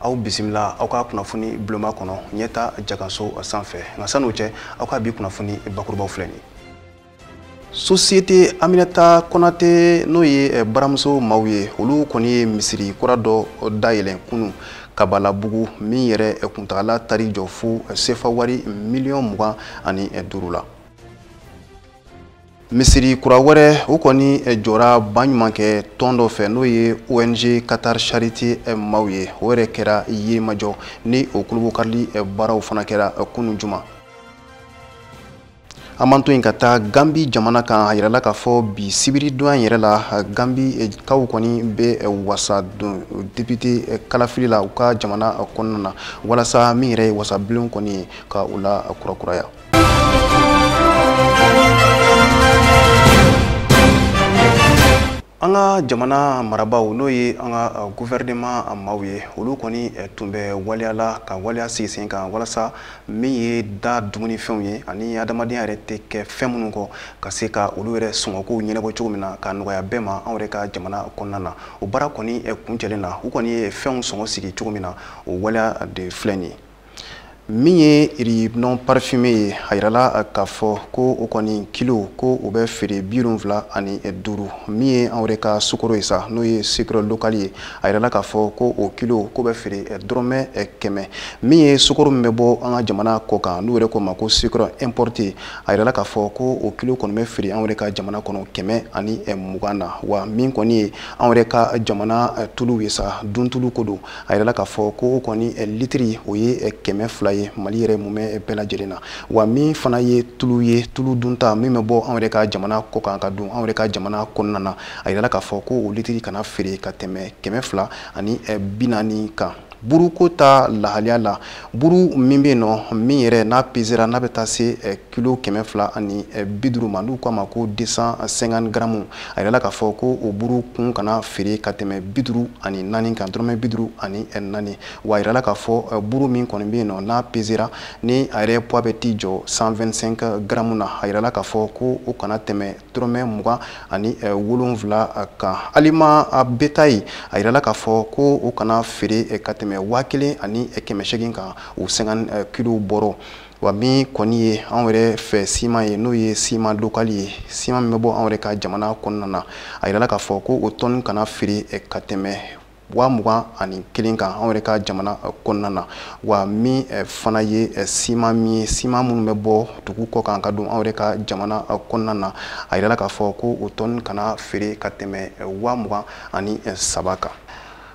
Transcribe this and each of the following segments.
aw bisimila aw ka kunnafoni buloma kɔnɔ ɲɛta jaganso sanfɛ nka sann'o cɛ aw ka bi kunnafoni bakurubaw filɛ nin sosiyete aminata konate n'o ye eh, baramuso maw ye olu kɔni ye misiri kura dɔ dayɛlɛn kunu kabalabugu min yɛrɛ eh, kuntagala taar'i jɔ fo eh, sefa wari miliyɔn mugan ani duuru la misiri kura wɛrɛ o kɔni eh, jɔra baɲumankɛtɔn dɔ fɛ n'o ye ong qatar charité eh, maw ye o yɛrɛ kɛra yirimajɔ ni o kulubukarili eh, baaraw fana kɛra kunu juma an b'an to yen ka taa gambi jamana kan a yirala k'a fɔ bi sibiri donya yɛrɛ la gambi eh, kaw kɔni bɛ eh, wasa don depite eh, kalafili la u ka jamana kɔnɔna na walasa min yɛrɛ ye wasabulon kɔni ye ka o lakurakuraya an ka jamana marabaaw n'o ye an ka guvɛrɛnema maaw ye olu kɔni tun bɛ waleya la ka waleya sigi sen kan walasa min ye da dumunifɛnw ye ani adamadenya yɛrɛ tɛ kɛ fɛn minnu kɔ ka se ka olu yɛrɛ sɔngɔkow ɲɛnabɔ cogo min na ka nɔgɔya bɛɛ ma anw yɛrɛ ka jamana kɔnɔna na o baara kɔni kuncɛlen na u kɔni ye fɛnw sɔngɔ sigi cogo min na o waleya de filɛ nin ye min ye riz non parfumé ye a yirala k'a fɔ ko o kɔni kilo ko o bɛ feere bi wolonwula ani duuru min ye anw yɛrɛ ka sukoro ye sa n'o ye sucre local ye a yirala k'a fɔ ko o kilo k'o bɛ feere dɔrɔmɛ kɛmɛ min ye sukoro min bɛ bɔ an ka jamana kɔ kan n'u yɛrɛ k'o ma ko sucre importé a yirala k'a fɔ ko o kilo kɔni bɛ feere anw yɛrɛ ka jamana kɔnɔ kɛmɛ ani mugan na wa min kɔni ye anw yɛrɛ ka jamana tulu ye sa duntulu ko don a yirala k'a fɔ ko o kɔni eh, litiri o ye eh, kɛmɛ fila ye mali yɛrɛ mumɛ eh, bɛɛ lajɛlen na wa min fana ye tulu ye tulu dunta min bɛ bɔ anw yɛrɛ ka jamana kɔ kan ka don anw yɛrɛ ka jamana kɔnɔna na a yirala k'a fɔ ko o litiri kana feere ka tɛmɛ kɛmɛ fila ani bi naani kan buruko ta lahaliya la buru min bɛ yen nɔ min yɛrɛ n'a pesera n'a bɛ taa se kilo kɛmɛ fila ani eh, bi duuru ma n'u k'a ma ko 250 garamu a yirala k'a fɔ ko o buru kun kana feere ka tɛmɛ bi duuru ani naani kan dɔrɔmɛ bi duuru ani eh, naani wa a yirala k'a fɔ eh, buru min kɔni bɛ yen nɔ n'a pesera ni a yɛrɛ poids bɛ t'i jɔ 125 garamu na a yirala k'a fɔ ko o kana tɛmɛ dɔrɔmɛ mugan ani wolonwula kan aliment bétail a yirala k'a fɔ ko o kana feere ka tɛmɛ waa kelen ani kɛmɛ seegin kan o 50 kilo bɔrɔ wa min kɔni ye anw yɛrɛ fɛ siman ye n'o ye siman lokali ye siman min bɛ bɔ anw yɛrɛ ka jamana kɔnɔna na a yirala k'a fɔ ko o tɔni kana feere eh, ka tɛmɛ waa mugan ani kelen kan anw yɛrɛ ka jamana eh, kɔnɔna na wa min eh, fana ye siman min ye siman minnu bɛ bɔ dugu kɔ kan ka don anw yɛrɛ ka jamana kɔnɔna na a yirala k'a fɔ ko o tɔni kana feere ka tɛmɛ waa mugan ani saba kan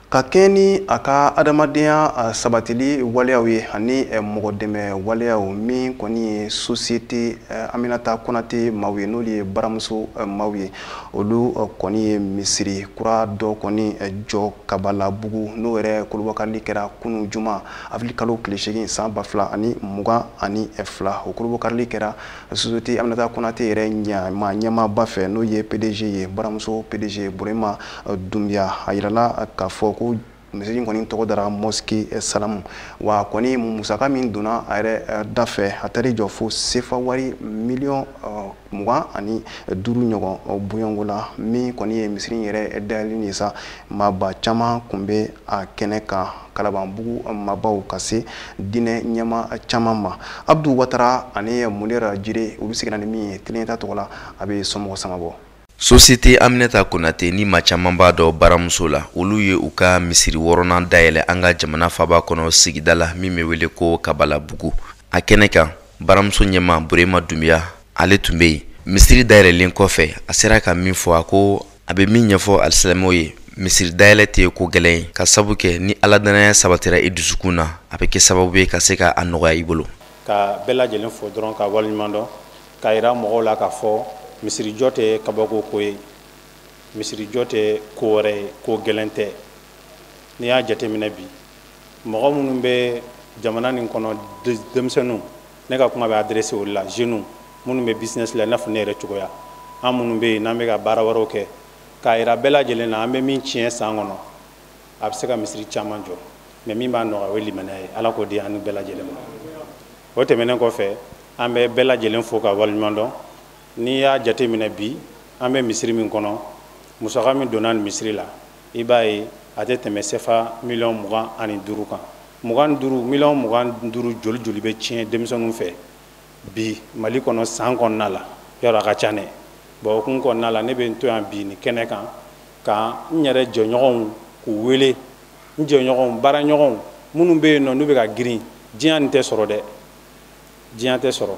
ka kɛɲɛ ni a ka adamadenya sabatili waleyaw ye ani mɔgɔ dɛmɛ waleyaw min kɔni ye sosiyete aminata konate maaw ye n'olu ye baramuso maaw ye olu kɔni ye misiri kura dɔ kɔni jɔ kabalabugu n'o yɛrɛ kurunbonkarili kɛra kunu juma avril kalo tile seegin san ba fila ani mugan ani fila o kurunbonkarili kɛra Société Aminata Konate yɛrɛ ɲɛmaa ɲɛmaaba fɛ n'o ye PDG ye baramuso PDG Burema Dunbiya a yirala k'a fɔ ko misiri in kɔni tɔgɔ dara mosquée salamu wa kɔni musaka min donna a yɛrɛ eh, da fɛ a taar'i jɔ fo sefa wari miliyɔn eh, mugan ani duuru ɲɔgɔn bonyɔngo la min kɔni ye misiri in yɛrɛ dayɛlɛli ye sa maaba caman kun bɛ a kɛnɛ kan kalabanbugu maabaw ka se diinɛ ɲɛmaa caman ma abdu watara ani munera jire olu seginna ni min ye tele ɲɛtaa tɔgɔ la a bɛ somɔgɔ sama bɔ Société Aminata Konate ni maa caman b'a dɔn baramuso la, olu ye u ka misiri wɔɔrɔnan dayɛlɛ an ka jamana faaba kɔnɔ sigida la min bɛ wele ko Kabalabugu. A kɛnɛ kan, baramuso ɲɛmaa Burema Dunbiya, ale tun bɛ yen. Misiri dayɛlɛlen kɔfɛ, a sera ka min fɔ, a ko a bɛ min ɲɛfɔ alisilamɛw ye misiri dayɛlɛ tɛ ko gɛlɛn ye ka sabu kɛ ni ala dannaya sabatira i dusukun na a bɛ kɛ sababu ye ka se ka a nɔgɔya i bolo ka bɛɛ lajɛlen fo dɔrɔn ka waleɲuman dɔn k'a yira mɔgɔw la k'a fɔ misirijɔ tɛ kabako ko ye misirijɔ tɛ ko wɛrɛ ye ko gɛlɛn tɛ n'i y'a jateminɛ bi mɔgɔ minnu bɛ jamana nin kɔnɔ denmisɛnninw ne ka kuma bɛ adressé olu la jeunes minnu bɛ business la i n'a fɔ ne yɛrɛ cogoya an minnu bɛ yen n'an bɛ ka baara wɛrɛw kɛ k'a yira bɛɛ lajɛlen na an bɛ min tiɲɛ san kɔnɔ a bɛ se ka misiri caman jɔ mais min b'a nɔgɔya o ye limaniya ye ala k'o di an ni bɛɛ lajɛlen ma o tɛmɛnen kɔfɛ an bɛ bɛɛ lajɛlen fo ka waleɲuman dɔn n'i y'a jate minɛ bi an bɛ misiri min kɔnɔ musaka min donna nin misiri la i b'a ye a tɛ tɛmɛ sefa miliyɔn mugan ani duuru kan mugan duuru miliyɔn mugan duuru joli joli bɛ tiɲɛ denmisɛnninw fɛ bi mali kɔnɔ san kɔnɔna la yɔrɔ a ka ca dɛ bon o kun kɔnɔna la ne bɛ n to yan bi nin kɛnɛ kan ka n yɛrɛ jɛɲɔgɔnw k'u wele n jɛɲɔgɔnw baaraɲɔgɔnw minnu bɛ yen nɔ n'u bɛ ka girin diɲɛ nin tɛ sɔrɔ dɛ diɲɛ tɛ sɔrɔ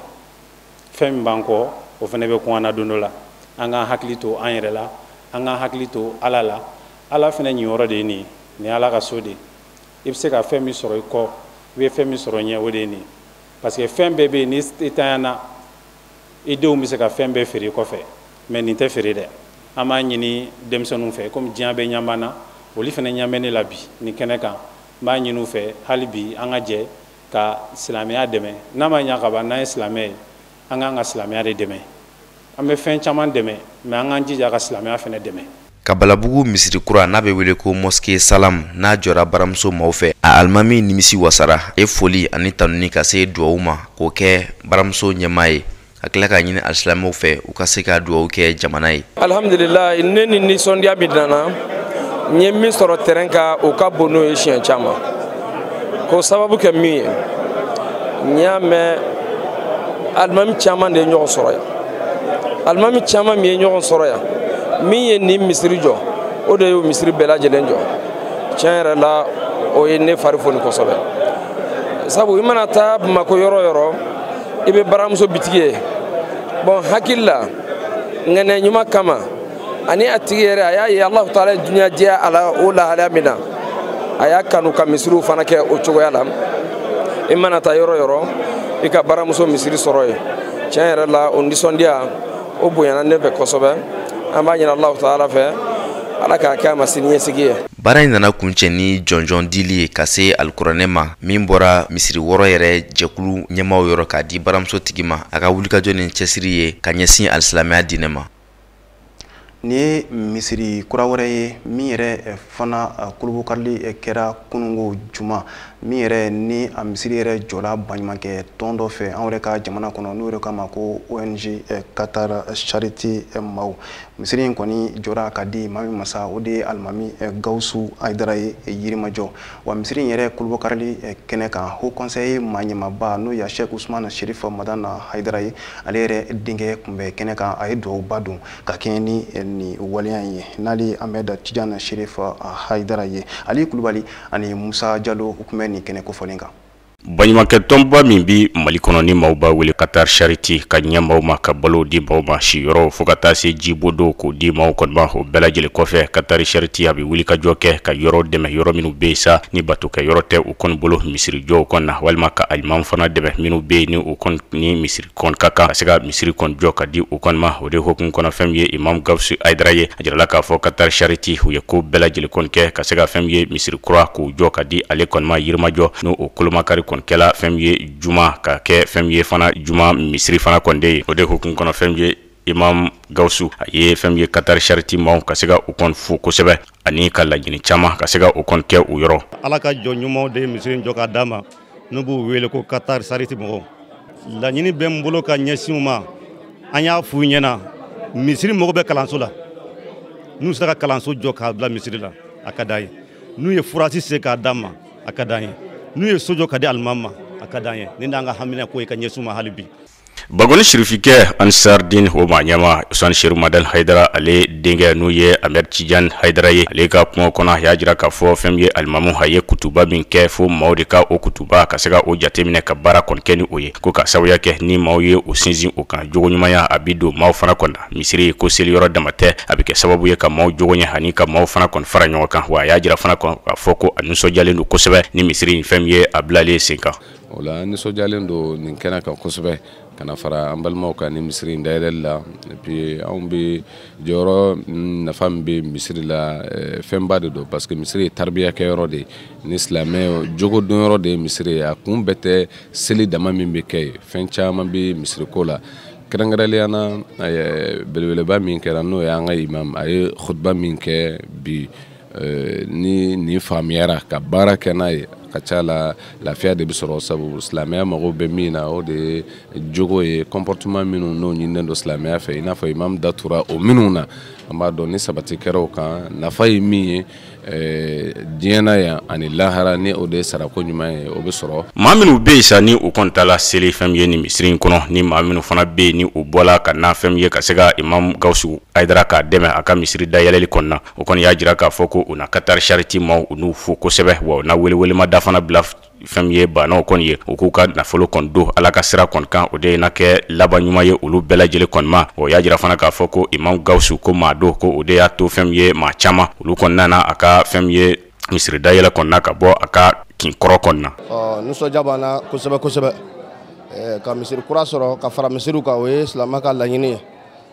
fɛn min b'an kɔ o fana bɛ kun an na don dɔ la an k'an hakili to an yɛrɛ la an k'an hakili to ala la ala fana ɲiyɔrɔ de ye nin ye nin ye ala ka so de ye i bɛ se ka fɛn min sɔrɔ i kɔ i bɛ fɛn min sɔrɔ ɲɛ o de ye nin ye parce que fɛn bɛɛ bɛ yen ni i tanyana i denw bɛ se ka fɛn bɛɛ feere i kɔfɛ mais nin tɛ feere dɛ an b'a ɲini denmisɛnninw fɛ komi diɲɛ bɛɛ ɲɛ b'an na olu fana ɲɛ bɛ ne la bi nin kɛnɛ kan n b'a ɲini u fɛ hali bi an ka jɛ ka silamɛya dɛmɛ n'a ma ɲa ka ban n'an ye silamɛ ye an k'an ka silamɛya de dɛmɛ an bɛ fɛn caman dɛmɛ mais an k'an jija ka silamɛya fana dɛmɛ kabalabugu misiri kura n'a bɛ wele ko mɔske salam n'a jɔra baramuso maaw fɛ a alimami nimisi wasara a ye foli ani tanuni ka se duwawu ma k'o kɛ baramuso ɲɛmaa ye ka tila k'a ɲini alisilamɛw fɛ u ka se ka duwawu kɛ jamana ye alhamdulilayi ne ni nisɔndiya min nana n ye min sɔrɔ tɛrɛn kan o ka bon n'o ye siɲɛ caman k'o sababu kɛ min ye n y'a mɛn alimami caman de ye ɲɔgɔn sɔrɔ yan alimami caman min ye ɲɔgɔn sɔrɔ yan min ye nin misiri jɔ o de y'o misiri bɛɛ lajɛlen jɔ tiɲɛ yɛrɛ la o ye ne fari foni kosɛbɛ sabu i mana taa bamako yɔrɔ o yɔrɔ i bɛ baramuso bitigi ye bɔn n hakili la ŋaniya ɲuman kama ani a tigi yɛrɛ a y'a ye alahu taala ye duniya diya a la o lahalaya min na a y'a kanu ka misiriw fana kɛ o cogoya la i mana taa yɔrɔ o yɔrɔ i ka baramuso misiri sɔrɔ yen tiɲɛ yɛrɛ la o nisɔndiya o bonyana ne fɛ kosɛbɛ an b'a ɲini alahu taala fɛ ala k'a kɛ a ma siniɲɛsigi ye baara in nana kuncɛ ni jɔnjɔn dili ye ka se alikuranɛ ma min bɔra misiri wɔɔrɔ yɛrɛ jɛkulu ɲɛmaaw yɔrɔ k'a di baramuso tigi ma a ka wulikajɔ ni cɛsiri ye ka ɲɛsin alisilamɛya diinɛ ma nin ye misiri kura wɛrɛ ye min yɛrɛ eh, fana eh, kolobokarili eh, kɛra kununko juma min yɛrɛ ni a misiri yɛrɛ jɔla baɲumankɛ tɔn dɔ fɛ an yɛrɛ ka jamana kɔnɔ n'o yɛrɛ k'a ma ko ong qatar charité maaw misiri in kɔni jɔra ka di maa min ma sa o de ye alimami gawusu ayidara ye yirimajɔ wa misiri in yɛrɛ kolobokarili eh, kɛnɛ kan haut conseil maa ɲɛmaaba n'o ye sheikh usman sherif madani haidara ye ale yɛrɛ denkɛ kun bɛ kɛnɛ kan a ye duwawuba don ka kɛɲɛ ni eh, ni waleya in ye n'ale amɛda tijan sherif eh, haidara ye ali kulubali ani musa jalo u tun bɛ nin kɛnɛ kofɔlen kan Baɲumankɛ tɔnba min bi Mali kɔnɔ ni maaw b'a wele Qatar Charity ka ɲɛ maaw ma ka balow di maaw ma siyɔrɔw fo ka taa se jibon dɔw k'o di maaw kɔni ma o bɛɛ lajɛlen kɔfɛ Qatar Charity a bɛ wulikajɔ kɛ ka yɔrɔ dɛmɛ yɔrɔ minnu bɛ yen sa ni batokɛyɔrɔ tɛ u kɔni bolo misiri jɔw kɔni na walima ka alimamiw fana dɛmɛ minnu bɛ yen ni u kɔni ni misiri kɔni ka kan ka se ka misiri kɔni jɔ ka di u kɔni ma o de hokumu kɔnɔ fɛn min ye imam gawusu ayidara ye a jirala k'a fɔ katar chariti u ye ko bɛɛ lajɛlen kɔni kɛ ka se ka fɛn min ye misiri kura k'u jɔ ka di ale kɔni ma yirimajɔ n'o o kolomakari kɔni kɛla fɛn min ye juma ka kɛ fɛn min ye fana juma misiri fana kɔni de ye o de hokumu kɔnɔ fɛn min ye imam gawusu a ye fɛn min ye katar chariti maaw ka se ka u kɔni fo kosɛbɛ ani ka laɲini caman ka se ka u kɔni kɛ u yɔrɔ ala ka jɔn ɲumanw de ye misiri jɔ ka d'an ma n'u b'u wele ko katari sariti mɔgɔw laɲini bɛ n bolo ka ɲɛsin u ma an y'a f'u ɲɛna misiri mago bɛ kalanso la n'u sera ka kalanso jɔ k'a bila misiri la a ka d'an ye n'u ye forazi sen k'a d'an ma a ka d'an ye n'u ye so jɔ ka di alimami ma a ka d'an ye nin d'an ka haminako ye ka ɲɛsin u ma hali bi Bankoni sirifikɛ ansardin o maa ɲɛmaa usman serifu madani ayidara ale denkɛ n'o ye amɛdi tijan ayidara ye ale ka kuma kɔnɔ a y'a jira k'a fɔ fɛn min ye alimamu a ye kutuba min kɛ fo maaw de ka o kutuba ka se ka o jateminɛ ka baara kɔni kɛ ni o ye ko ka sababuya kɛ ni maaw ye u sinsin o kan jogo ɲumanya a bɛ don maaw fana kɔnɔ misiri ko seli yɔrɔ dama tɛ a bɛ kɛ sababu ye ka maaw jogo ɲɛ ani ka maaw fana kɔni fara ɲɔgɔn kan wa a y'a jira fana kɔni k'a fɔ ko a nisɔndiyalen don kosɛbɛ ni misiri in fɛn min ye a bilalen sen kan o la n nisɔndiyalen don nin kɛnɛ kan kosɛbɛ ka na fara an balimaw kan ni misiri in dayɛlɛli la et puis anw bɛ jɔyɔrɔ nafa min bɛ misiri la eh, fɛnba de don parce que misiri ye taribiya kɛyɔrɔ de ye ni silamɛ jogo donyɔrɔ de ye misiri ye a kun bɛɛ tɛ seli dama min bɛ kɛ ye fɛn caman bɛ misiri ko la kɛrɛnkɛrɛnnenya na eh, belebeleba min kɛra n'o ye an ka imam a ye khutba min kɛ bi Eh, ni nin faamuyara ka baara kɛ n'a ye ka ca la lafiya de bɛ sɔrɔ sabu silamɛya mago bɛ min na o de ye jogo ye comportement minnu n'o ɲininen don silamɛya fɛ i n'a fɔ imam datura o minnu na an b'a dɔn ni sabati kɛra o kan nafa ye min ye eh, diɲɛ na yan ani lahara ni o de ye sarako ɲuman ye o bɛ sɔrɔ maa minnu bɛ yen sa ni u kɔni taala seli fɛn min ye nin misiri in kɔnɔ ni maa minnu fana bɛ yen ni u bɔla ka na fɛn min ye ka se ka imam gawusu ayidara k'a dɛmɛ a ka misiri dayɛlɛli kɔnɔna o kɔni y'a jira k'a fɔ ko u na Qatar Charity maaw u n'u fo kosɛbɛ wa u na welewelemada fana bila fɛn min ye baanaw kɔni ye u k'u ka nafolo kɔni don ala ka sira kɔni kan o de ye na kɛ laban ɲuman ye olu bɛɛ lajɛlen kɔni ma o y'a jira fana k'a fɔ ko imam gawusu ko maa don ko o de y'a to fɛn min ye maa caman olu kɔni nana a ka fɛn min ye misiri dayɛlɛ kɔnɔna ka bɔ a ka kin kɔrɔ kɔnɔna nisɔndiya b'an na kosɛbɛ kosɛbɛ ka misiri kura sɔrɔ ka fara misiriw kan o ye silamɛ ka laɲini ye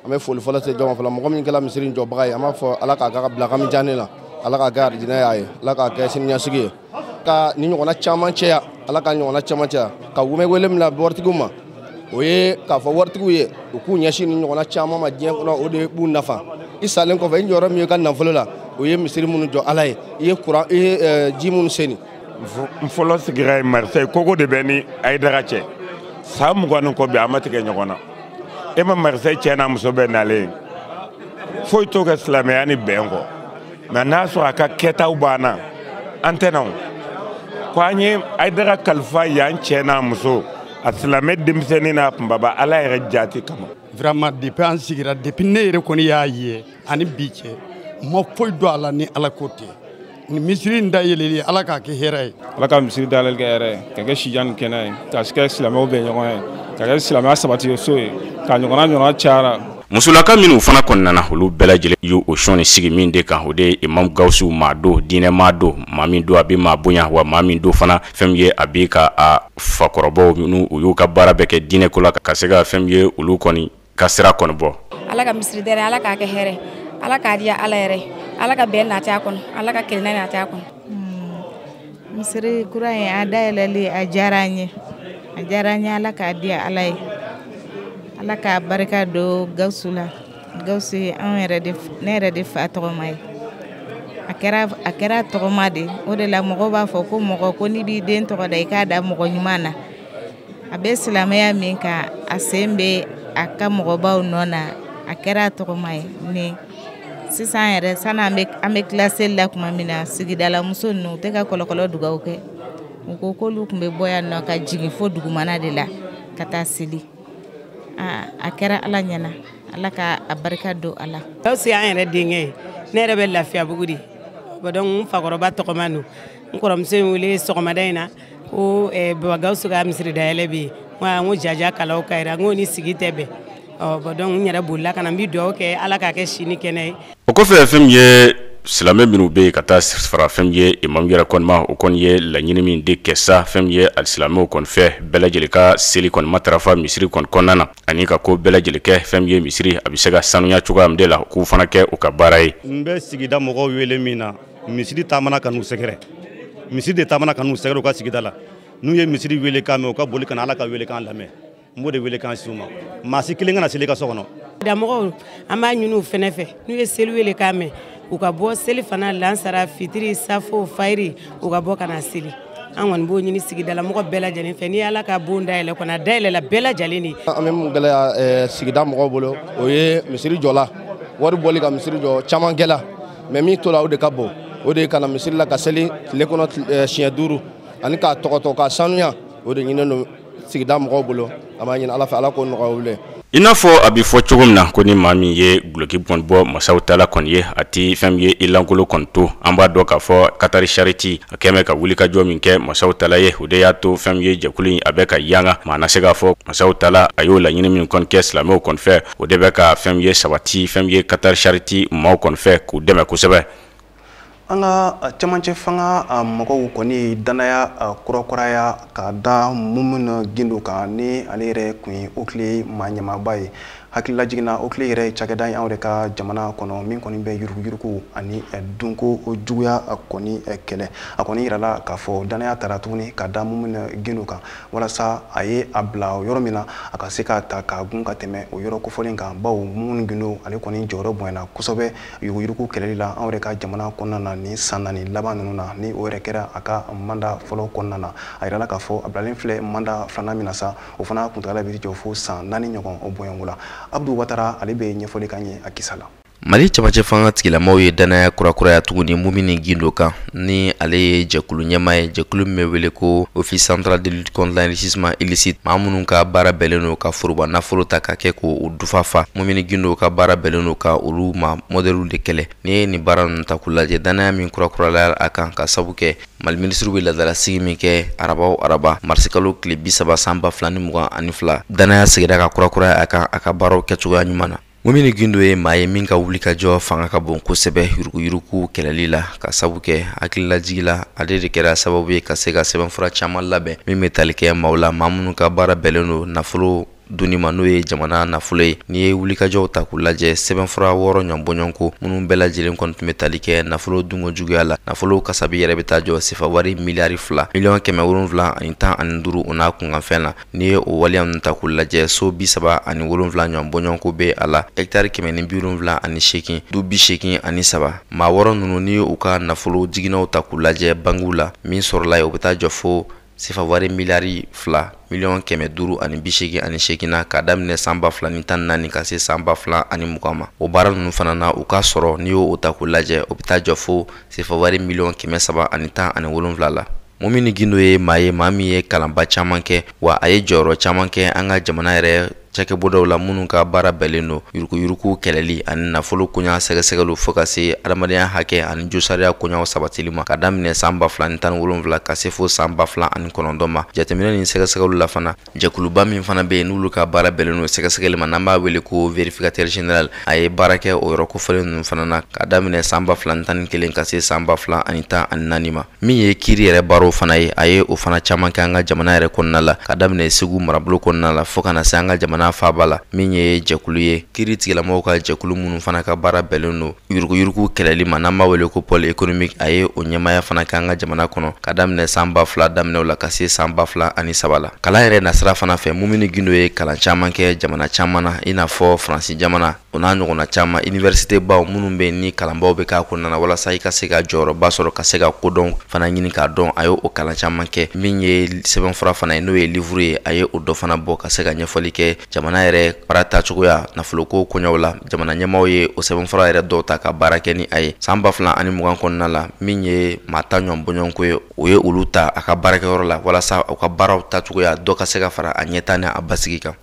an bɛ foli fɔlɔ se jɔn ma fɔlɔ mɔgɔ min kɛra misiri in jɔbaga ye an b'a fɔ ala k'a ka bila a ka mizani la ala k'a kɛ arijinɛ y'a ye ala k'a kɛ siniɲɛsigi ye ka ni ɲɔgɔnna caman cɛya ala ka ɲɔgɔnna caman cɛya an bɛ wele min na waritigiw ma o ye k'a fɔ waritigiw ye u k'u ɲɛsin ni ɲɔgɔnna caman ma diɲɛ kɔnɔ o de b'u nafa i salen kɔfɛ i jɔyɔrɔ min ye ka nafolo la o ye misiri minnu jɔ ala ye i ye kuran i ye ji minnu seni n fɔlɔ sigira ye Marseille kogo de bɛ ni ayidara cɛ san mugan ni kɔ bi a ma tigɛ ɲɔgɔn na e ma Marseille cɛ n'a muso bɛɛ nalen ye foyi t'o kɛ silamɛya ni bɛn kɔ mais n'a sɔrɔ a ka kɛtaw banna an tɛna o ko an ye ayidara kalifa yan cɛ n'a muso a silamɛ denmisɛnnin n'a kunbaba ala yɛrɛ jati kama vraiment depuis an sigira depuis ne yɛrɛ kɔni y'a ye ani bi cɛ ma foyi dɔn a la ni ala ko tɛ misiri in dayɛlɛli ala k'a kɛ hɛrɛ ye ala ka misiri dayɛlɛli kɛ hɛrɛ ye ka kɛ sijan ni kɛnɛ ye ka kɛ silamɛw bɛɛ ɲɔgɔn ye ka kɛ silamɛya sabati so ye ka ɲɔgɔnna ɲɔgɔnna cayara musolaka minnu fana kɔni nana olu bɛɛ lajɛlen y'o sɔnni sigi min de kan o de ye imam gawusu maa don diinɛ maa don maa min don a bɛ maa bonya wa maa min don fana fɛn min ye a bɛ ka a fakɔrɔbaw minnu u y'u ka baara bɛɛ kɛ diinɛ ko la ka se ka fɛn min ye olu kɔni ka sira kɔni bɔ ala ka misiri dayɛlɛ ala k'a kɛ hɛrɛ ala k'a diya ala yɛrɛ ala ka bɛn nati a kɔnɔ ala ka kelenna nati a kɔnɔ hmm. misiri kura in a dayɛlɛli a diyara an ye a diyara an ye ala k'a diya ala ye ala k'a barika don gawusu la gawusu ye ne yɛrɛ de fa tɔgɔma ye a kɛra tɔgɔma de o de la mɔgɔw b'a fɔ ko mɔgɔ ko n'i b'i den tɔgɔ da i k'a da mɔgɔ ɲuman na a bɛ silamɛya min kan a sen bɛ a ka mɔgɔbaw nɔ na a kɛra a tɔgɔma ye ni sisan yɛrɛ sani an bɛ tila seli la tuma min na sigidalamuso ninnu u tɛ ka kɔlɔkɔlɔ dugawu kɛ u ko k'olu tun bɛ bɔ yan nɔ ka jigin fo dugumana de la ka taa seli aa a kɛra ala ɲɛna ala ka a barika don a la. gawusu y'an yɛrɛ denkɛ ye ne yɛrɛ bɛ lafiyabugu de donc n fakɔrɔba tɔgɔma don n kɔrɔmuso ye n wele sɔgɔmada in na. ko eh, baba gawusu ka misiri dayɛlɛ bɛ yen n ko jaja kalaw ka yira n ko ni sigi tɛ bɛn donc n yɛrɛ bolila ka na n bɛ dugawu kɛ ala k'a kɛ si ni kɛnɛ ye o kɔfɛ fɛn min ye silamɛ minnu bɛ yen ka taa fara fɛn min ye imamu yɛrɛ kɔni ma o kɔni ye laɲini min de kɛ sa fɛn min ye alisilamɛw kɔni fɛ bɛɛ lajɛlen ka seli kɔni matarafa misiri kɔni kɔnɔna na ani ka ko bɛɛ lajɛlen kɛ fɛn min ye misiri a bɛ se ka sanuya cogoya min de la k'u fana kɛ u ka baara ye n bɛ sigida mɔgɔw wele min na misiri taamana ka n'u sɛgɛrɛ misiri de taamana ka n'u sɛgɛrɛ u ka sigida la n'u ye misiri weele kan mɛn u ka boli ka na ala ka weele kan lamɛn n b'o de weele kan sin u ma maa si kelen kana seli ka so kɔnɔ damɔgɔw an b'a ɲini u fɛnɛ fɛ n'u ye seli weele kan mɛn u ka bɔ selifana lansara fitiri safo fayiri u ka bɔ ka na seli an kɔni b'o ɲini sigidalamɔgɔ bɛɛ lajɛlen fɛ ni ala ka bon dayɛlɛ kɔni a dayɛlɛla bɛɛ lajɛlen de an bɛ mun gɛlɛya sigida mɔgɔw bolo o ye misiri jɔla wari bɔli ka misiri jɔ caman kɛla mais min tola o de ka bon o de ye ka na misiri la ka seli tile kɔnɔ siɲɛ duuru ani k'a tɔgɔtɔ k'a sanuya o de ɲininen don sigida mɔgɔw bolo an b'a ɲini ala fɛ ala k'o nɔgɔya olu ye i n'a fɔ a bɛ fɔ cogo min na ko ni maa min ye guloki kɔni bɔ masaw tala kɔni ye a t'i fɛn min ye i lankolon kɔni to an b'a dɔn k'a fɔ Qatar Charity a kɛmɛ ka wulikajɔ min kɛ masaw tala ye o de y'a to fɛn min ye jɛkulu in a bɛ ka yanga mana se k'a fɔ masaw tala a y'o laɲini min kɔni kɛ silamɛw kɔni fɛ o de bɛ ka fɛn min ye sabati fɛn min ye qatar charity maaw kɔni fɛ k'u dɛmɛ kosɛbɛ an ka camancɛ fanga mɔgɔw kɔni dannaya kurakuraya ka da mumini gindo kan ni ale yɛrɛ tun ye oclei maa ɲɛmaaba ye hakililajigin na oclei yɛrɛ cakɛda ye anw yɛrɛ ka jamana kɔnɔ min kɔni bɛ yuruguyurugu ani dunko juguya kɔni kɛlɛ a kɔni yirala k'a fɔ dannaya tara tuguni ka da mumini gindo kan walasa a ye a bila yɔrɔ min na a ka se k'a ta k'a gun ka tɛmɛ o yɔrɔ kofɔlen kan bawo mumini gindo ale kɔni jɔyɔrɔ bonyana kosɛbɛ yuruguyurugu kɛlɛli la anw yɛrɛ ka jamana kɔnɔna na nin san naani laban ninnu na ni o yɛrɛ kɛra a ka manda fɔlɔ kɔnɔna na a yirala k'a fɔ a bilalen filɛ manda filanan min na sa o fana kuntagala bɛ taa jɔ fo san naani ɲɔgɔn bɔɲɔgɔnko la abdu watara ale bɛ ɲɛfɔli k'an ye a kisa la mali camancɛ fanga tigilamaaw ye dannaya kurakuraya tuguni mumini gindo kan ni ale ye jɛkulu ɲɛmaa ye jɛkulu min bɛ wele ko office central de lutte contre l'enrichissement illicite maa minnu ka baara bɛnnen don ka foroba nafolo ta ka kɛ k'u dufa fa mumini gindo ka baara bɛnnen don ka olu maa mɔdɛliw de kɛlɛ n'i ye nin baara ninnu ta k'u lajɛ dannaya min kurakurayala a kan k'a sabu kɛ mali minisiriw bɛ laadalasigi min kɛ araba o araba marisikalo tile bi saba san ba fila ni mugan ani fila dannaya seginna ka kurakuraya a kan a ka baaraw kɛcogoya ɲuman na mumini gindo ye maa ye min ka wulikajɔ fanga ka bon kosɛbɛ yuruguyurugu kɛlɛli la k'a sabu kɛ hakililajigi la ale de kɛra sababu ye ka se ka sɛbɛnfura caman labɛn min bɛ tali kɛ maaw la maa minnu ka baara bɛnnen don nafolo dunni ma n'o ye jamana nafolo ye n'i ye wulikajɔw ta k'u lajɛ sɛbɛnfura wɔɔrɔ ɲɔnbɔɲɔnko minnu bɛɛ lajɛlen kɔni tun bɛ tali kɛ nafolo dunko juguya la nafolo kasabi yɛrɛ bɛ taa jɔ sefawari miliyari fila miliyɔn kɛmɛ wolonwula ani tan ani duuru o n'a kunkanfɛn la N'i ye o waleya ninnu ta k'u lajɛ so bi saba ani wolonwula ɲɔgɔn bɔɲɔgɔnko bɛ a la hɛkitari kɛmɛ ni bi wolonwula ani seegin du bi seegin ani saba maa wɔɔrɔ ninnu n'i ye u ka nafolo jiginnaw ta k'u lajɛ bankiw la min sɔrɔla yen o bɛ taa jɔ fo sefawari miliyari fila miliyɔn kɛmɛ duuru ani bi seegin ani seegin na k'a daminɛ san ba fila ni tan ni naani ka se san ba fila ani mugan ma o baara ninnu fana na u ka sɔrɔ n'i y'o ta k'u lajɛ o bɛ taa jɔ fo sefa wari miliyɔn kɛmɛ saba ani tan ani wolonwula la mumini gindo ye maa ye maa min ye kalanba caman kɛ wa a ye jɔyɔrɔ caman kɛ an ka jamana yɛrɛ cakɛbondaw la minnu ka baara bɛnnen don yuruguyurugu kɛlɛli ani nafolo koɲa sɛgɛsɛgɛliw fo ka se adamadenya hakɛ ani josariya koɲaw sabatili ma ka daminɛ san ba fila ni tan ni wolonwula ka se fo san ba fila ani kɔnɔntɔn ma jateminɛ ni sɛgɛsɛgɛliw la fana jɛkuluba min fana bɛ yen n'olu ka baara bɛnnen don sɛgɛsɛgɛli ma n'an b'a wele ko vérificateur général a ye baara kɛ o yɔrɔ kofɔlen ninnu fana na ka daminɛ san ba fila ni tan ni kelen ka se san ba fila ani tan ani naani ma min ye kiiri yɛrɛ baaraw fana ye a ye o fana caman kɛ an ka jamana yɛrɛ kɔnɔna la ka daminɛ segu marabolo kɔnɔna la fo ka na se an ka jamana faaba la min ye jɛkulu ye kiiri tigilamɔgɔw ka jɛkulu minnu fana ka baara bɛnnen don yuruguyurugu kɛlɛli ma n'an b'a wele ko pôle économique a ye o ɲɛmaya fana kɛ an ka jamana kɔnɔ ka daminɛ san ba fila daminɛw la ka se san ba fila ani saba la kalan yɛrɛ nasira fana fɛ mumini gindo ye kalan caman kɛ jamana caman na i n'a fɔ faransi jamana o n'a ɲɔgɔnna caman université baw minnu bɛ ni kalanbaw bɛ k'a kɔnɔna na walasa i ka se ka jɔyɔrɔba sɔrɔ ka se ka kodɔn fana ɲini k'a dɔn a ye o kalan caman kɛ min ye sɛbɛnfura fana ye n'o ye livuru ye a ye o dɔ fana bɔ ka se ka ɲɛfɔli kɛ jamana yɛrɛ baara tacogoya nafoloko koɲɛw la jamana ɲɛmaaw ye o sɛbɛnfura yɛrɛ dɔw ta ka baara kɛ ni a ye san ba fila ani mugan kɔnɔna la min ye maa tan ɲɔgɔn bɔɲɔgɔnko ye o ye olu ta a ka baarakɛyɔrɔ la walasa u ka baaraw tacogoya dɔ ka se ka fara a ɲɛtaa ni a basigi kan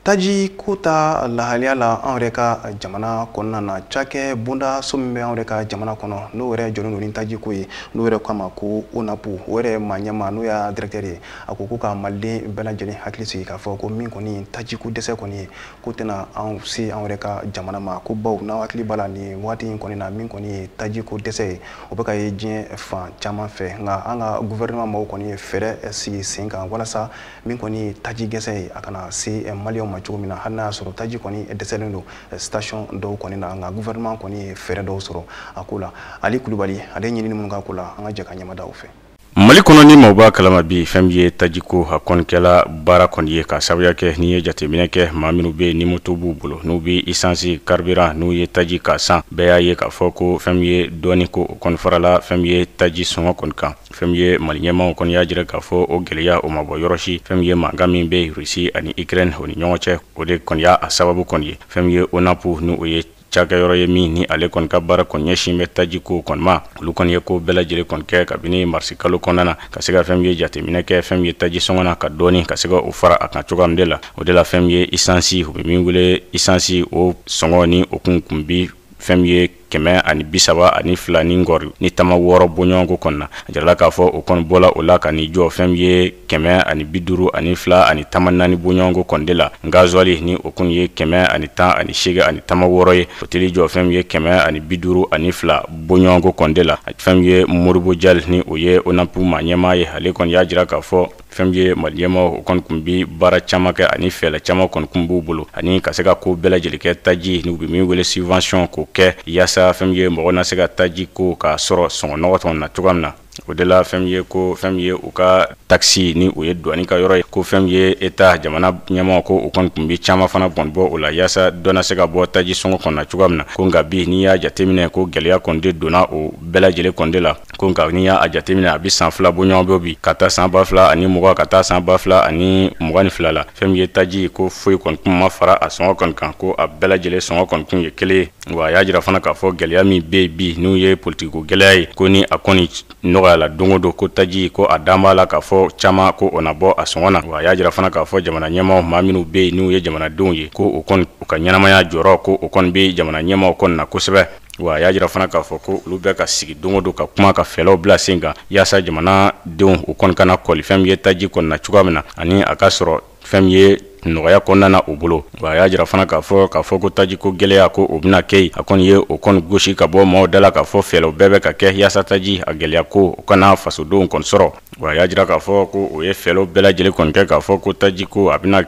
taji ko ta lahaliya la an yɛrɛ ka jamana kɔnɔna na cakɛ bonda so min bɛ an yɛrɛ ka jamana kɔnɔ n'o yɛrɛ jɔlen don ni taji ko ye n'o yɛrɛ k'a ma ko onapu o yɛrɛ maa ɲɛmaa n'o y'a directeur ye a ko ko ka maliden bɛɛ lajɛlen hakili sigi k'a fɔ ko min kɔni tajiko dɛsɛ kɔni ye ko tɛna an se an yɛrɛ ka jamana ma ko baw n'aw hakili b'a la nin waati in kɔni na min kɔni ye taji ko dɛsɛ ye o bɛ ka ye diɲɛ fan caman fɛ nka an ka guvɛrɛnɛman maaw kɔni ye fɛɛrɛ sigi sen kan walasa min kɔni ye taji dɛsɛ ye a kana se maliyɛnw ma cogo min na hali n'a y'a sɔrɔ taji kɔni dɛsɛlen don station dɔw kɔni na nka guvɛrɛnɛman kɔni ye fɛɛrɛ dɔw sɔrɔ a ko la ali kulubali ale ɲinini minnu k'a ko la an ka jɛ ka ɲɛmada o fɛ mali kɔnɔ ni maaw b'a kalama bi fɛn min ye tajiko a kɔni kɛla baara kɔni ye k'a sababuya kɛ n'i ye jateminɛ kɛ maa minnu bɛ ni moto b'u bolo n'u bɛ isansi carburant n'o ye taji k'a san bɛɛ y'a ye k'a fɔ ko fɛn min ye dɔɔni ko o kɔni farala fɛn min ye taji sɔngɔ kɔni kan fɛn min ye mali ɲɛmaaw kɔni y'a jira k'a fɔ o gɛlɛya o ma bɔ yɔrɔ si fɛn min ye mankan min bɛ rusi ani ukraine o ni ɲɔgɔn cɛ o de kɔni y'a sababu kɔni ye fɛn min ye onapu n'o ye cakɛyɔrɔ ye min ni ale kɔni ka baara kɔni ɲɛsin bɛ taji ko kɔni ma olu kɔni ye ko bɛɛ lajɛlen kɔni kɛ kabini marisi kalo kɔnɔna na ka se ka fɛn min ye jateminɛ kɛ fɛn min ye taji sɔngɔ na ka dɔɔni ka se ka o fara a kan cogoya min de la o de la fɛn min ye isansi u bɛ min wele isansi o sɔngɔ ni o kun kun bi fɛn min ye kɛmɛ ani bisaba ani fila ni kɔri ni tama wɔɔrɔ bɔɲɔgɔnko kɔnɔna a jirala k'a fɔ o kɔni bɔla o la ka n'i jɔ fɛn min ye kɛmɛ ani bi duuru ani fila ani tama naani bɔɲɔgɔnko kɔni de la gazuwali ni o kun ye kɛmɛ ani tan ani seegin ani tama wɔɔrɔ ye o taal'i jɔ fɛn min ye kɛmɛ ani bi duuru ani fila bɔɲɔgɔnko kɔni de la fɛn min ye modibo jal ni o ye onapu maa ɲɛmaa ye ale kɔni y'a jira k'a fɔ fɛn min ye mali ɲɛmaaw o kɔni kun bɛ baara caman kɛ ani fɛɛrɛ caman kɔni kun b'u bolo ani ka se ka ko bɛɛ lajɛlen kɛ taji ni u bɛ min wele subvention k'o kɛ yaasa fɛn min ye mɔgɔw na se ka taji ko k'a sɔrɔ sɔngɔ nɔgɔ dɔ na cogoya min na O de la fɛn min ye ko fɛn min ye u ka taxe ni o ye douane ka yɔrɔ ye ko fɛn min ye état jamana ɲɛmaa ko u kɔni kun bɛ caman fana kɔni bɔ o la yaasa dɔ na se ka bɔ taji sɔngɔ kɔnɔ cogoya min na ko nka bi n'i y'a jateminɛ ko gɛlɛya kɔni de donna o bɛɛ lajɛlen kɔni de la ko nka n'i y'a jateminɛ a bɛ san fila bɔɲɔgɔn bɔ bi ka taa san ba fila ani mugan ka taa san ba fila ani mugan ni fila la fɛn min ye taji ko foyi kɔni kun ma fara a sɔngɔ kɔni kan ko a bɛɛ lajɛlen sɔngɔ kɔni kun ye kelen wa a y'a jira fana k'a fɔ gɛlɛya min bɛ yen bi n'u ye politikiko gɛlɛya ye ko ni a kɔni nɔgɔyala don o don ko taji ko a dan b'a la k'a fɔ caman ko o na bɔ a sɔngɔ na wa a y'a jira fana k'a fɔ jamana ɲɛmaaw maa minnu bɛ yen n'u ye jamanadenw ye ko o kɔni u ka ɲɛnamaya jɔrɔ ko o kɔni bɛ jamana ɲɛmaaw kɔni na kosɛbɛ wa a y'a jira fana k'a fɔ ko olu bɛ ka sigi don o don ka kuma ka fɛɛrɛw bila sen kan yaasa jamanadenw u kɔni kana kɔli fɛn min ye taji kɔni na cogoya min na ani a ka sɔrɔ fɛn min ye nɔgɔya kɔnɔna na u bolo wa a y'a jira fana k'a fɔ k'a fɔ ko taji ko gɛlɛya ko o bɛna kɛ yen a kɔni ye o kɔni gosi ka bɔ maaw da la k'a fɔ fɛɛrɛw bɛɛ bɛ ka kɛ yaasa taji a gɛlɛya ko o kana fasodenw kɔni sɔrɔ wa a y'a jira k'a fɔ ko u ye fɛɛrɛw bɛɛ lajɛlen kɔni kɛ k'a fɔ ko taji ko a bɛna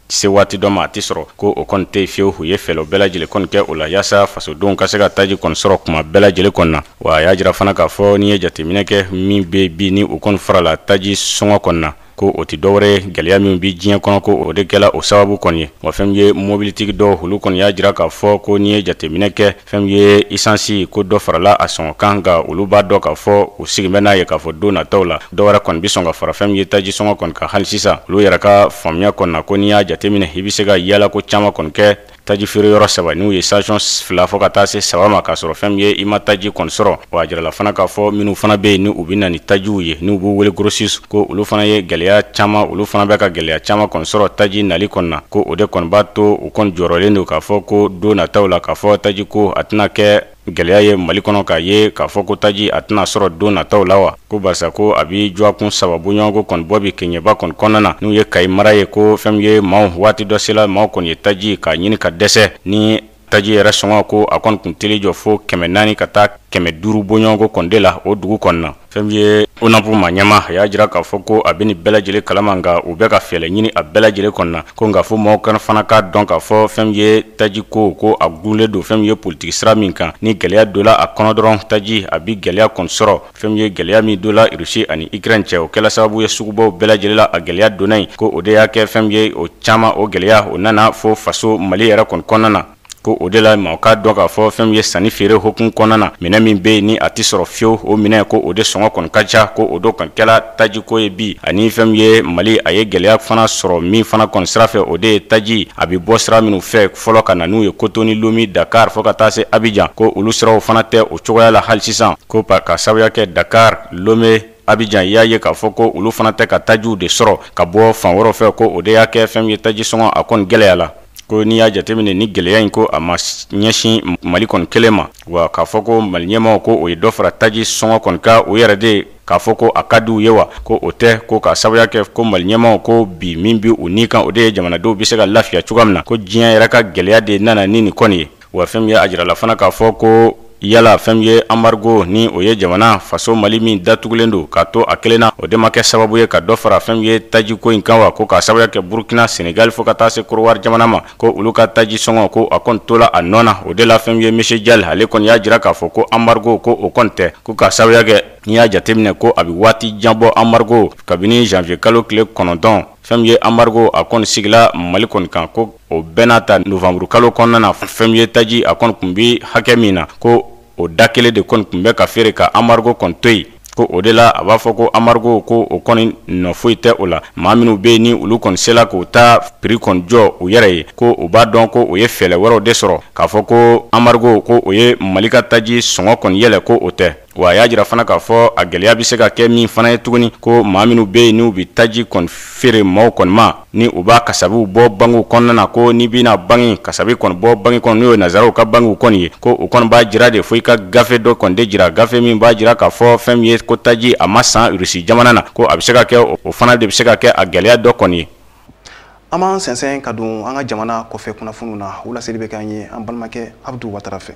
se waati dɔ ma a tɛ sɔrɔ ko o kɔni tɛ fiyewu u ye fɛɛrɛw bɛɛ lajɛlen kɔni kɛ o la yaasa fasodenw ka se ka taji kɔni sɔrɔ kuma bɛɛ lajɛlen kɔni na wa a y'a jira fana k'a fɔ n'i ye jateminɛ kɛ min bɛ bi ni o kɔni farala taji sɔngɔ kɔni na ko o tɛ dɔwɛrɛ gɛlɛya min bɛ diɲɛ kɔnɔ ko o de kɛla o sababu kɔni ye wa fɛn min ye mobilitigi dɔw olu kɔni y'a jira k'a fɔ ko n'i ye jateminɛ kɛ fɛn min ye isansi ko dɔ farala a sɔngɔ kan nka olu b'a dɔn k'a fɔ u sigi bɛ n'a ye k'a fɔ don nataw la dɔwɛrɛ kɔni bɛ sɔn ka fara fɛn min ye taji sɔngɔ kɔni kan hali sisan olu yɛrɛ ka faamuya kɔni na ko n'i y'a jateminɛ i bɛ se ka yaalako caman kɔni kɛ taji feere yɔrɔ saba n'u ye station fila fo ka taa se saba ma k'a sɔrɔ fɛn min ye i ma taji kɔni sɔrɔ wa a jirala fana k'a fɔ minnu fana bɛ yen ni u bɛ na ni tajiw ye n'u b'u wele grossistes ko olu fana ye gɛlɛya caman olu fana bɛ ka gɛlɛya caman kɔni sɔrɔ taji nali kɔni na ko o de kɔni b'a to u kɔni jɔrɔlen don k'a fɔ ko don nataw la k'a fɔ taji ko a tɛna kɛ Gɛlɛya ye Mali kɔnɔ k'a ye k'a fɔ ko taji a tɛna sɔrɔ don nataw la wa? Ko barisa ko a bɛ dɔgɔkun saba bɔɲɔgɔnko kɔni bɔ bi Kɛɲɛba kɔni kɔnɔna na, n'u ye Kayi mara ye ko fɛn min ye maaw waati dɔ sela maaw kɔni ye taji k'a ɲini ka dɛsɛ ni taji yɛrɛ sɔngɔ ko a kɔni tun teli jɔ fo kɛmɛ naani ka taa kɛmɛ duuru bɔɲɔgɔnko kɔni de la o dugu kɔni na. fɛn min ye ONAP maa ɲɛmaa a y'a jira k'a fɔ ko a bɛ nin bɛɛ lajɛlen kalama nka u bɛ ka fɛɛrɛ ɲini a bɛɛ lajɛlen kɔnɔna ko nka fo mɔgɔw ka na fana k'a dɔn k'a fɔ fɛn min ye taji ko ko a dulonnen don fɛn min ye politiki sira min kan ni gɛlɛya donna a kɔnɔ dɔrɔn taji a bɛ gɛlɛya kɔni sɔrɔ fɛn min ye gɛlɛya min donna rusi ani ikrɛni cɛ o kɛla sababu ye sugubaw bɛɛ lajɛlen la a gɛlɛya donna yen ko o de y'a kɛ fɛn min ye o caman o gɛlɛya o nana fo faso mali yɛrɛ kɔni kɔnɔna na ko o de la mɔgɔ k'a dɔn k'a fɔ fɛn min ye sanni feere hukumu kɔnɔna na minɛn min bɛ yen ni a tɛ sɔrɔ fiyewu o minɛn ko o de sɔngɔ kɔni ka ca ko o de kɔni kɛla tajiko ye bi ani fɛn min ye mali a ye gɛlɛya fana sɔrɔ min fana kɔni sira fɛ o de ye taji a bɛ bɔ sira minnu fɛ fɔlɔ ka na n'u ye kotonu lome dakari fo ka taa se abijan ko olu siraw fana tɛ o cogoya la hali sisan ko k'a sababuya kɛ dakari lome Abijan y'a ye k'a fɔ ko olu fana tɛ ka tajiw de sɔrɔ ka bɔ fan wɛrɛw fɛ ko o de y'a kɛ fɛn min ye taji sɔngɔ a kɔni gɛlɛyala ko n'i y'a jateminɛ nin gɛlɛya in ko a ma ɲɛsin mali kɔni kelen ma wa k'a fɔ ko mali ɲɛmaw ko u ye dɔ fara taji sɔngɔ kɔni kan u yɛrɛ de k'a fɔ ko a ka di u ye wa ko o tɛ ko k'a sababuya kɛ ko mali ɲɛmaw ko bi min bɛ u ni kan o de ye jamanadenw bɛ se ka lafiya cogoya min na ko diɲɛ yɛrɛ ka gɛlɛya de nana ni nin kɔni ye wa fɛn min ye a jirala fana k'a fɔ ko yala fɛn min ye embargo ni o ye jamana faso mali min datugulen don k'a to a kelen na o de ma kɛ sababu ye ka dɔ fara fɛn min ye tajiko in kan wa ko k'a sababuya kɛ burukina senegali fo ka taa se kodiwari jamana ma ko olu ka taji sɔngɔ ko a kɔni tola a nɔ na o de la fɛn min ye monsieur Diall ale kɔni y'a jira k'a fɔ ko embargo ko o kɔni tɛ ko k'a sababuya kɛ n'i y'a jateminɛ ko a bɛ waati jan bɔ embargo kabini janvier kalo tile kɔnɔntɔn fɛn min ye embargo a kɔni sigila mali kɔni kan ko o bɛɛ n'a ta novembre kalo kɔnɔna na fɛn min ye taji a kɔni kun bɛ hakɛ min na ko o da kelen de kɔni kun bɛ ka feere ka embargo kɔni to yen ko o de la a b'a fɔ ko embargo ko o kɔni nɔ foyi tɛ o la maa minnu bɛ yen ni olu kɔni sela k'u ta prix kɔni jɔ u yɛrɛ ye ko u b'a dɔn ko u ye fɛɛrɛ wɛrɛw de sɔrɔ k'a fɔ ko embargo ko o ye mali ka taji sɔngɔ kɔni yɛlɛ ko o tɛ wa a y'a jira fana k'a fɔ a gɛlɛya bɛ se ka kɛ min fana ye tuguni ko maa minnu bɛ yen n'u bɛ taji kɔni feere maaw kɔni ma ni u b'a kasabiw bɔ bankiw kɔnɔna na ko n'i bɛna banki kasabi kɔni bɔ banki kɔnɔ n'o ye nazaraw ka bankiw kɔni ye ko u kɔni b'a jira de fo i ka gafe dɔ kɔni de jira gafe min b'a jira k'a fɔ fɛn min ye ko taji a ma san irisi jamana na ko a bɛ se ka kɛ o fana de bɛ se ka kɛ a gɛlɛya dɔ kɔni ye an b'an sɛnsɛn ka don an ka jamana kɔfɛ kunnafoniw na o laseli bɛ k'an ye an balimakɛ abudu watara fɛ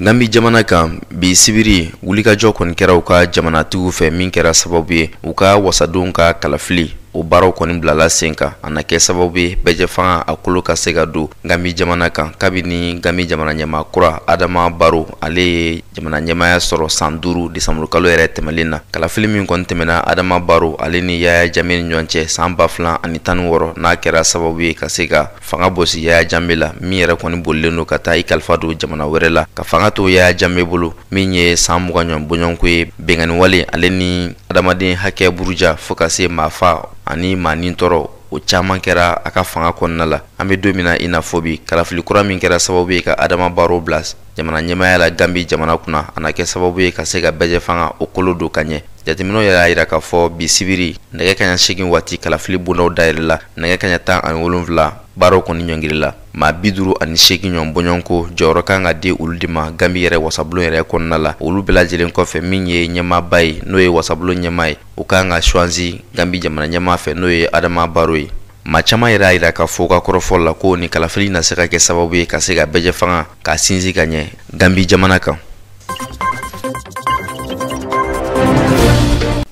gambi jamana kan bi sibiri wulikajɔ kɔni kɛra u ka jamanatigiw fɛ min kɛra sababu ye u ka wasadenw ka kalafili o baaraw kɔni bilala sen kan a na kɛ sababu ye bɛɛjɛ fanga a kolo ka se ka don gambi jamana kan kabini gambi jamana ɲɛmaa kura adama baro ale ye jamana ɲɛmaaya sɔrɔ san duuru desanburukalo yɛrɛ tɛmɛlen na kalafili min kɔni tɛmɛna adama baro ale ni yaya jame ni ɲɔgɔn cɛ san ba filan ani tan ni wɔɔrɔ n'a kɛra sababu ye ka se ka fanga bosi yaya jame la min yɛrɛ kɔni bolilen don ka taa i kalifa don jamana wɛrɛ la ka fanga to yaya jame bolo min ye san mugan ɲɔgɔn bɔɲɔgɔnko ye binkanni wale ale ni adamaden hakɛ buruja fo ka se maa fa ani maa nitɔɔrɔ o caman kɛra a ka fanga kɔnɔna la an bɛ don min na i n'a fɔ bi kalafili kura min kɛra sababu ye ka adama baro bila jamana ɲɛmaaya la gambi jamana kunna a na kɛ sababu ye ka se ka bɛɛjɛ fanga o kolo don ka ɲɛ jateminɛw yɛrɛ y'a jira k'a fɔ bi sibiri nɛgɛ kaɲa segin waati kalafili bondaw dayɛlɛla nɛgɛ kaɲa tan ani wolonfila baaraw kɔni ɲɔngirila maa bi duru ani segin ɲɔgɔn bɔɲɔgɔnko jɔyɔrɔ kan ka di olu de ma gambi yɛrɛ wasabulon yɛrɛ kɔnɔna la olu bɛɛ lajɛlen kɔfɛ min ye ɲɛmaaba ye n'o ye wasabulon ɲɛma ye o kan ka choisi gambi jamana ɲɛma fɛ n'o ye adama baro ye Ma caman yɛrɛ y'a jira k'a fɔ u ka kɔrɔfɔ la ko nin kalafili na se ka kɛ sababu ye ka se ka bɛɛjɛ fanga k'a sinsin ka ɲɛ gambi jamana kan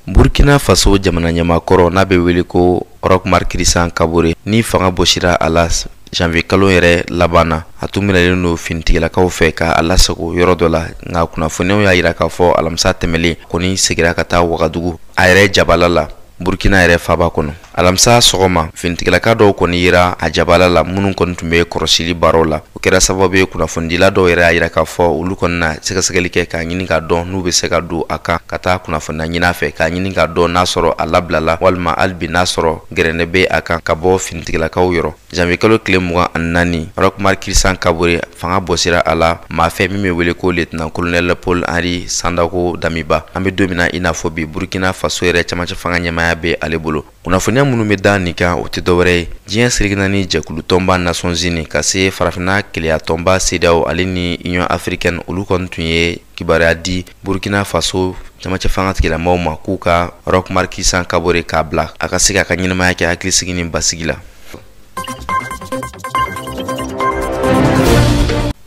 burukina faso jamana ɲɛma kɔrɔ n'a bɛ wele ko Roch Marc Christian Kabore ni fanga bosira a la janvier kalo yɛrɛ laban na a tun minɛlen don finitigilakaw fɛ k'a lasago yɔrɔ dɔ la nka kunnafoniyaw y'a jira k'a fɔ alamisa tɛmɛlen kɔni segira ka taa wagadugu a yɛrɛ jabala la burkina yɛrɛ faaba kɔnɔ alamisa sɔgɔma finitigilaka dɔw kɔni yera a jabala la minnu kɔni tun bɛ kɔrɔsili baaraw la o kɛra sababu ye kunnafonidila dɔw yɛrɛ y'a yira k'a fɔ olu kɔni na sɛgɛsɛgɛli kɛ k'a ɲini k'a dɔn n'u bɛ se ka don a kan ka taa kunnafoniya ɲini a fɛ k'a ɲini k'a dɔn n'a sɔrɔ a labilala walima hali bi n'a sɔrɔ gɛrɛntɛ bɛ a kan ka bɔ finitigilakaw yɔrɔ janvier kalo tile mugan ani naani roch marc christian kabore fanga bɔsira a la maa fɛ min be wele ko lieutenant colonel paul henri sandaogo damiba an be don min na i n'a fɔ bi burkina faso yɛrɛ camancɛ fanga ɲɛmaaya be ale bolo kunnafoniya minnu be da nin kan o tɛ dɔwɛrɛ ye diɲɛ seleke naani jɛkulu tɔnba nations unies ka se farafina kelenya tɔnba cedeao ale ni union africaine olu kɔni tun ye kibaruya di burkina faso camancɛ fanga tigilamɔgɔw ma k'u ka roch marc christian kabore k'a bila a ka se k'a ka ɲɛnamaya kɛ hakilisigi ni basigi la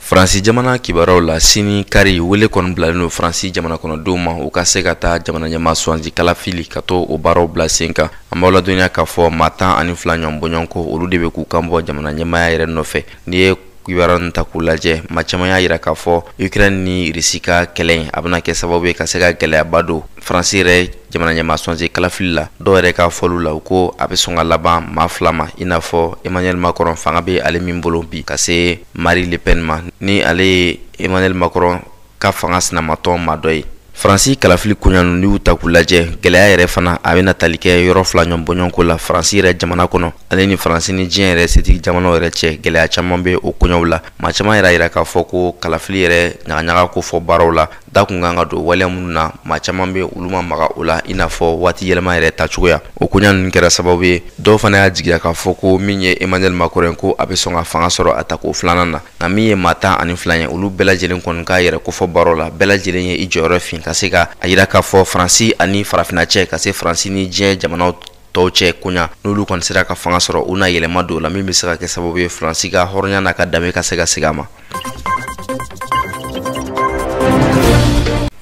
faransi jamana kibaruyaw la sini kari wele kɔni bilalen don faransi jamana kɔnɔdenw ma u ka se ka taa jamana ɲɛmaa sugandi kalafili ka to o baaraw bila sen kan an b'aw ladɔnniya k'a fɔ maa tan ani fila ɲɔgɔn bɔɲɔgɔnko olu de bɛ k'u kan bɔ jamana ɲɛmaaya yɛrɛ nɔfɛ n'i ye kibaruya ninnu ta k'u lajɛ maa caman y'a jira k'a fɔ ukraine ni rusi ka kɛlɛ in a bɛna kɛ sababu ye ka se ka gɛlɛyaba don faransi yɛrɛ jamana ɲɛmaa sugandi kalafili la dɔw yɛrɛ ka fɔliw la u ko a bɛ sɔn ka laban maa fila ma i n'a fɔ emmanuel macron fanga bɛ ale min bolo bi ka se marine le pen ma ni ale ye emmanuel macron ka fanga sinamatɔn maa dɔ ye faransi kalafili koɲanu n'i y'u ta k'u lajɛ gɛlɛya yɛrɛ fana a bɛna tali kɛ yɔrɔ fila ɲɔgɔn bɔɲɔgɔnko la faransi yɛrɛ jamana kɔnɔ ale ni faransi ni diɲɛ yɛrɛ setigi jamanaw yɛrɛ cɛ gɛlɛya caman bɛ o koɲɛw la maa caman yɛrɛ y'a yira k'a fɔ ko kalafili yɛrɛ ɲagaɲaga kofɔ baaraw la da kun kan ka don waleya minnu na maa caman bɛ olu ma maga o la i n'a fɔ waati yɛlɛma yɛrɛ ta cogoya o koɲa ninnu kɛra sababu ye dɔw fana y'a jigiya k'a fɔ ko min ye emmanuel macron ko a bɛ sɔn ka fanga sɔrɔ a tako filanan na nka min ye maa tan ani fila ye olu bɛɛ lajɛlen kɔni k'a yɛrɛ kofɔ baara la bɛɛ lajɛlen ye i jɔyɔrɔ fin ka se ka a yira k'a fɔ faransi ani farafinna cɛ ka se faransi ni diɲɛ jamanaw tɔw cɛ koɲa n'olu kɔni sera ka fanga sɔrɔ u na yɛlɛma don la min bɛ se ka kɛ sababu ye faransi ka hɔrɔnya n'a ka danbe ka se ka segin a ma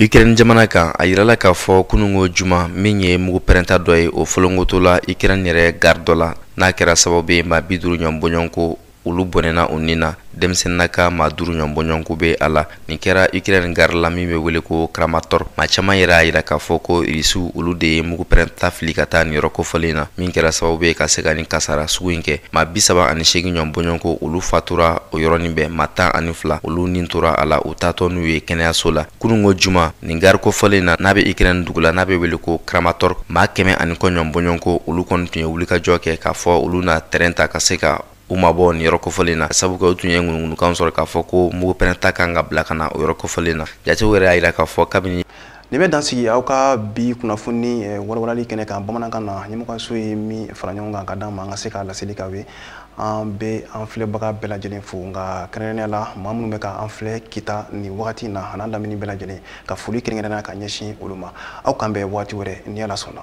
ukraine jamana kan a yirala k'a fɔ kunungo juma min ye mugu pɛrɛnta dɔ ye o folonkotola ukraine yɛrɛ gare dɔ la n'a kɛra sababu ye maa bi duuru ɲɔgɔn bɔɲɔgɔnko olu bɔnɛna u nin na denmisɛnninnaka maa duuru ɲɔgɔn bɔɲɔgɔnko bɛ a la nin kɛra ukraine gare la min bɛ wele ko kramatorsk maa caman yɛrɛ y'a jira k'a fɔ ko rusiw olu de ye mugu pɛrɛnta fili ka taa nin yɔrɔ kofɔlen na min kɛra sababu ye ka se ka nin kasara sugu in kɛ maa bi saba ani seegin ɲɔgɔn bɔɲɔgɔnko olu fatura o yɔrɔnin bɛɛ maa tan ani fila olu nin tora a la u taatɔ n'u ye kɛnɛyaso la kununko juma nin gari kofɔlen na n'a bɛ ukraine dugu la n'a bɛ wele ko kramatorsk maa kɛmɛ ani kɔ ɲɔn bɔɲɔgɔnko olu kɔni tun ye wulikajɔ kɛ k'a fɔ olu na terɛn ta ka se ka u mabɔ nin yɔrɔ kofɔlen na sabu kɛ u tun ye ŋunuŋunukan sɔrɔ k'a fɔ ko mugu pɛrɛnta kan ka bila ka na o yɔrɔ kofɔlen na jatew yɛrɛ y'a yira k'a fɔ kabini nin bɛ dan sigi aw ka bi kunnafoni eh, walawalali kɛnɛ kan bamanankan na ɲɛmɔgɔso ye min fara ɲɔgɔn kan ka d'an ma an ka se k'a laseli k'aw ye an bɛ an filɛbaga bɛɛ lajɛlen fo nka kɛrɛnkɛrɛnnenya la maa minnu bɛ ka an filɛ kita nin wagati in na an'a lamini bɛɛ lajɛlen ka foli kɛrɛnkɛrɛnnenya ka ɲɛsin olu ma aw k'an bɛn waati wɛrɛ ni ala sɔnna